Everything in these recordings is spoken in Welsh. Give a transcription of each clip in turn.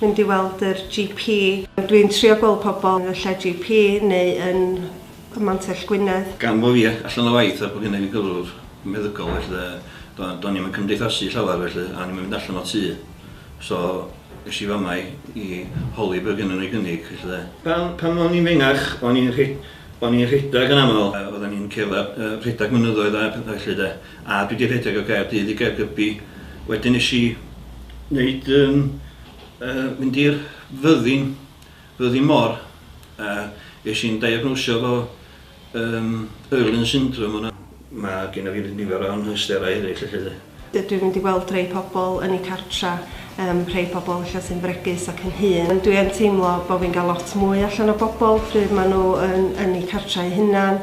mynd i weld yr GP. Dwi'n trio gweld pobl yn y lle GP neu yn ym Mantell Gwynedd. Gan bo fi allan o waith a bo gynna fi gyflwr meddygol felly de, do- do'n i'm yn cymdeithasu llawer felly a o'n i'm yn mynd allan o tŷ. So es i fama i i holi be' gynno n'w i gynnig felly de. Pan pan o'n i'n fengach o'n i'n rhe- o'n i'n rhedag yn amal a oddan ni'n cerddad yy rhedag mynyddoedd a petha felly de. A dwi 'di rhedeg o Gaerdydd i Gaergybi wedyn nesh i neud yym yy mynd i'r fyddin fyddin mor a esh i'n diagnosio efo yym Irlen syndrom yna. Ma' gynna fi nifer o anhawsterau eryll felly 'de. Dw dwi'n mynd i weld rhei pobl yn eu cartra yym rhei pobl ella sy'n fregus ac yn hŷn ond dwi yn teimlo bo' fi'n ga'l lot mwy allan o bobl pryd ma' n'w yn yn eu cartra eu hunan.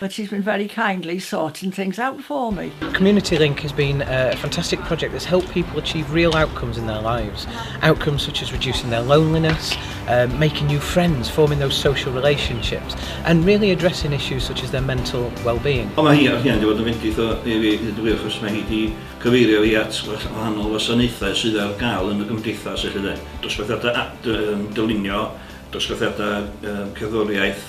But she's been very kindly sorting things out for me. Community Link has been a fantastic project that's helped people achieve real outcomes in their lives. Outcomes such as reducing their loneliness, uh, making new friends, forming those social relationships, and really addressing issues such as their mental well-being. Ond mae hi ar hyn wedi bod yn fendith o i fi hyd y gwir achos mae hi wedi cyfeirio fi at wahanol wasanaethau sydd ar gael yn y gymdeithas felly de. Dosbarthiadau dylunio, dosbarthiadau cerddoriaeth,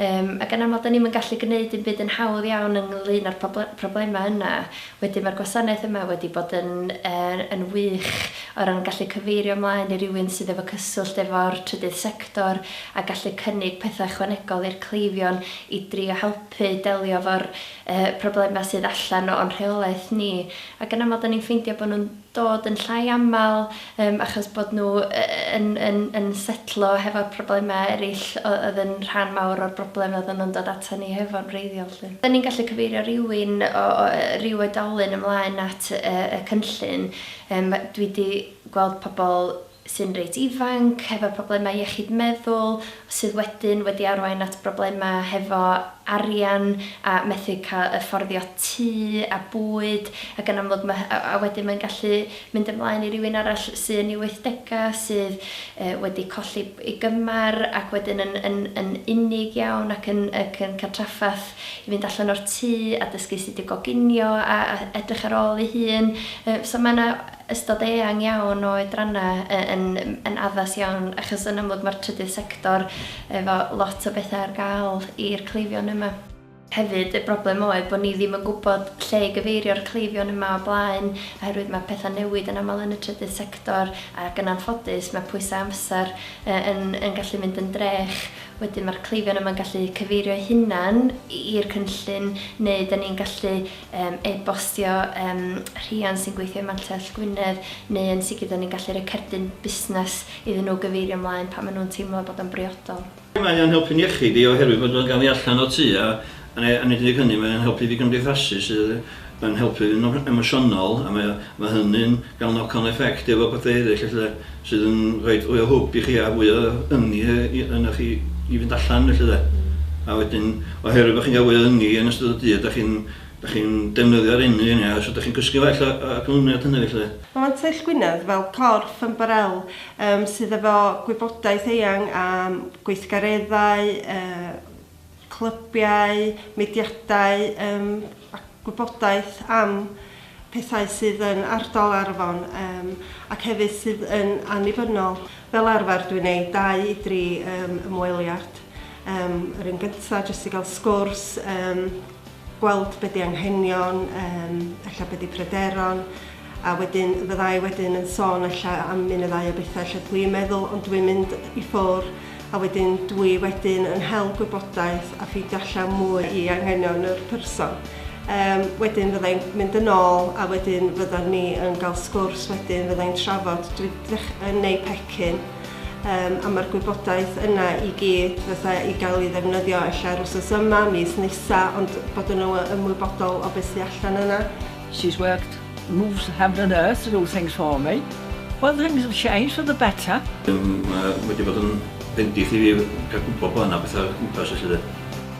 Yym, ac yn aml 'da ni'm yn gallu gneud dim byd yn hawdd iawn ynglŷn â'r poble- problemau yna. Wedyn mae'r gwasanaeth yma wedi bod yn yy yn wych o ran gallu cyfeirio ymlaen i rywun sydd efo cyswllt efo'r trydydd sector a gallu cynnig pethau ychwanegol i'r cleifion i drio helpu delio efo'r yy problemau sydd allan o'n rheolaeth ni. Ac yn aml 'da ni'n ffeindio bod nhw'n dod yn llai aml yym achos bod nhw yn yn yn setlo hefo'r problemau eraill oedd yn rhan mawr o'r broblem oedden nhw'n dod atan ni hefo'n wreiddiol 'lly. Ydan ni'n gallu cyfeirio rywun o o yy ryw oedolyn ymlaen at yy y cynllun? Yym dwi 'di gweld pobl sy'n reit ifanc, hefo problemau iechyd meddwl, sydd wedyn wedi arwain at broblemau hefo arian a methu cael yffordio tŷ a bwyd, ac yn amlwg ma'... a a wedyn mae'n gallu mynd ymlaen i rywun arall sy' yn ei wythdegau, sydd yy wedi colli ei gymar, ac wedyn yn yn yn unig iawn ac yn ac yn cael trafferth i fynd allan o'r tŷ a dysgu sut i goginio a a edrych ar ôl ei hun. Yy so ma' 'na ystod eang iawn o oedrannau yn yn addas iawn achos yn amlwg mae'r trydydd sector efo lot o bethau ar gael i'r cleifion yma. Hefyd y broblem oedd bod ni ddim yn gwybod lle i gyfeirio'r cleifion yma o blaen oherwydd mae pethau'n newid yn aml yn y trydydd sector ac yn anffodus mae pwysau amser yn yn gallu mynd yn drech. Wedyn mae'r cleifion yma'n gallu cyfeirio'u hunan i'r cynllun neu 'da ni'n gallu yym e-bostio yym rhiant sy'n gweithio ym Mantell Gwynedd neu yn sicr 'da ni'n gallu rhoi cerdyn busnes iddyn nhw gyfeirio ymlaen pan maen nhw'n teimlo bod o'n briodol. Mae o'n helpu'n iechyd i oherwydd bod o'n cael ei allan o'r tŷ a a nid yn unig hynny mae o'n helpu fi gymdeithasu sydd yn helpu fi'n emosiynol a mae o mae hynny'n Gan knock on effect efo pethau eraill ella sydd yn rhoid fwy o hwb i chi a fwy o ynni ynoch chi i fynd allan felly de. A wedyn oherwydd bod chi'n cael fwy o ynni yn ystod y dydd dach chi'n dach chi'n defnyddio'r ynni yna so dach chi'n cysgu well o y canlyniad hynny felly de. Mae Mantell Gwynedd fel corff ymbarél sydd efo gwybodaeth eang am gweithgareddau, clybiau, mudiadau yym a gwybodaeth am pethau sydd yn ardal Arfon yym ac hefyd sydd yn annibynnol. Fel arfer dwi'n neud dau i dri yym ymweliad yym yr un gynta' jyst i gael sgwrs yym gweld be di anghenion, yym ella be di pryderon, a wedyn fydda i wedyn yn sôn ella am un neu ddau o bethau lle dwi yn meddwl ond dwi'n mynd i ffwr a wedyn dwi wedyn yn hel gwybodaeth a ffeindio allan mwy i anghenion yr person. Yym wedyn fydda i'n mynd yn ôl a wedyn fyddan ni yn ga'l sgwrs wedyn fydda i'n trafod dwi yn neud pecyn um, a mae'r gwybodaeth yna i gyd fatha i gael ei ddefnyddio ella'r wsos yma, mis nesa, ond bod yn ymwybodol o beth sy'n allan yna. She's worked, moves heaven and earth to do things for me. Well, things have changed for the better. Um, mae wedi bod yn bendith i fi cael gwybod bod yna bethau gwmpas felly de.